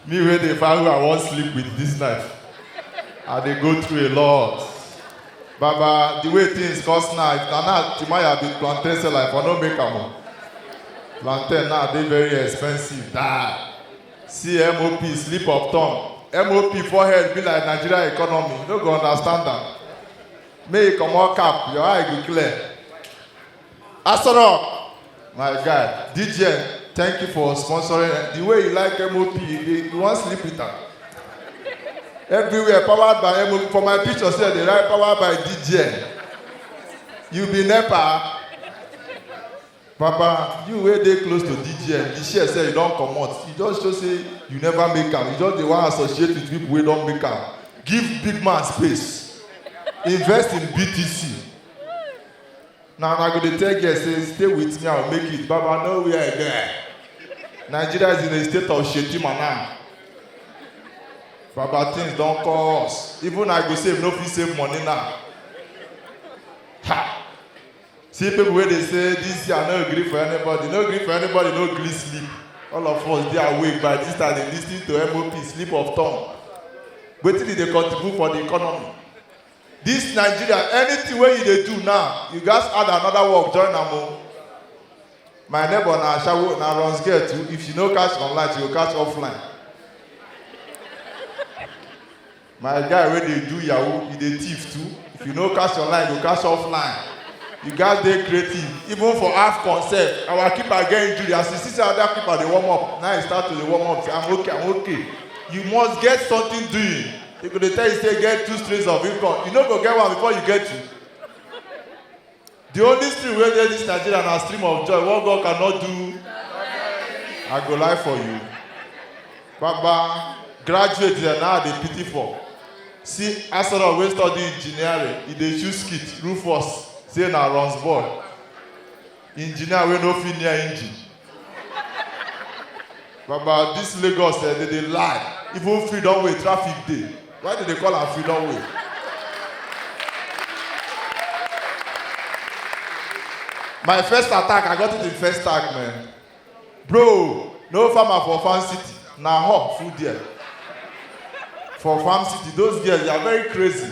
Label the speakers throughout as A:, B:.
A: Me wey dey find who I wan sleep with this life, I dey go through a lot. Baba, the way things cost now, if na now Timaya be plantain seller, I for no make am o. Plantain now dey very expensive die. See MOP slip of tongue. MOP forehead be like Nigeria economy, you no go understand am. Make you comot cap, your eye go clear. Asoro, my guy, DJ, thank you for sponsoring. The way you like MOP, you, dey- you wan sleep with am. Everywhere powered by MOP. For my picture sef, dey write powered by DJ. You be NEPA. Papa, you wey dey close to DJ, the share sef you don comot. You just show say you never make am. You just dey wan associate with people wey don make am. Give big man space. Invest in BTC. na una go dey tell girls say stay with me i will make it baba no where i get nigeria is in a state of shetima now baba things don cost even i go save no fit save money now ha see people wey dey say this year no gree for anybody no gree for anybody no gree sleep all of us dey awake by this time dey lis ten to mop sleep of tongue wetin e dey contribute for the economy This Nigeria, anything wey you dey do now, you gats add another work join am o. My neighbor na ashawo, na runs girl too, if she no catch online, she go catch offline. My guy wey dey do yahoo, he dey thief too, if you no catch online, you go catch offline. You gats dey creative, even for AFCON sef, our keeper get injury, as he see say other keeper dey warm up, na he start to dey warm up say I'm okay, I'm okay. You must get something doing. They go dey tell you say get two streams of income. You no go get one before you get two. The only stream wey dey this Nigeria na stream of joy. What God cannot do, I go lie for you. Baba, graduate dem now I dey pity for. See Asoro wey study engineering, e dey choose skit, Rufus, say na runs boy. engineer wey no fit near engine baba this lagos eh dey dey lie even freedom way traffic dey why dey dey call am freedom way my first attack i got it in first tag man bro no farmer for farm city na hawk full there for farm city those girls they are very crazy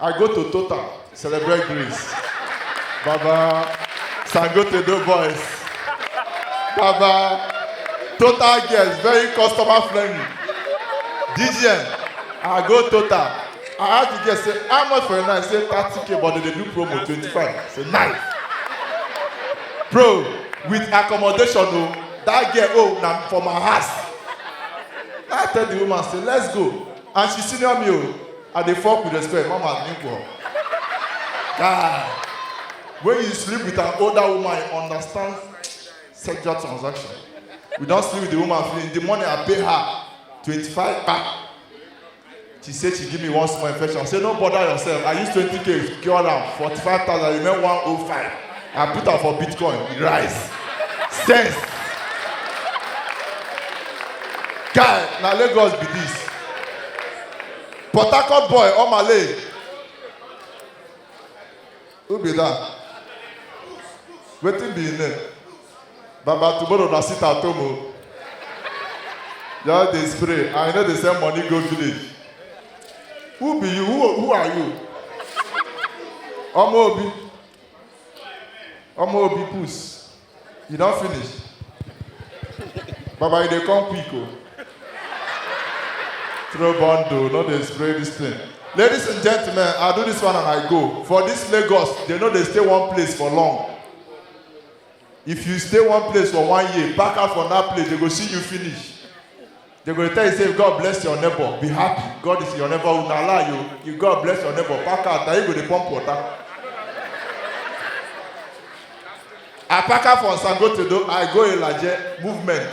A: I go to Total, celebrate Greece. Baba, Sangote do boys. Baba, Total girls, very customer friendly. DGN, I go Total. I ask the girl, say, how much for a night? Say, 30k, but they dey do promo, 25. Say, nice. Bro, with accommodation, oh, that girl, oh, na for my house. I tell the woman, say, let's go. And she senior me, oh. I dey fuck with respect, mama nigga. Guy, when you sleep with an older woman, you understand sexual transaction. We don sleep with the woman finish. The money I pay her, 25 kpa. She say she give me one small infection. I say no bother yourself. I use 20k cure am, 45,000 remain 105. I put am for Bitcoin, e rise. Sense. Guy, na Lagos be this. Port Harcourt boy, Omale. Who be that? Wetin be him name? Baba tomorrow na sit at home o. Just dey spray and you no dey send money go village. Who be you? Who, who are you? Ọmọ Obi. Ọmọ Obi puss. You don finish? Baba, you dey come quick o. Throw bundle, no dey spray this thing. Ladies and gentlemen, I do this one and I go. For this Lagos, they no dey stay one place for long. If you stay one place for one year, pack out from that place, they go see you finish. They go tell you say God bless your neighbor, be happy. God is your neighbor. Una lie you. You God bless your neighbor. Pack out. Now you go dey pump water. I pack out from Sangotedo. I go Ilaje movement.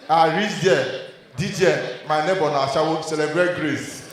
A: I reach there. DJ, my neighbor na Ashawo celebrate grace.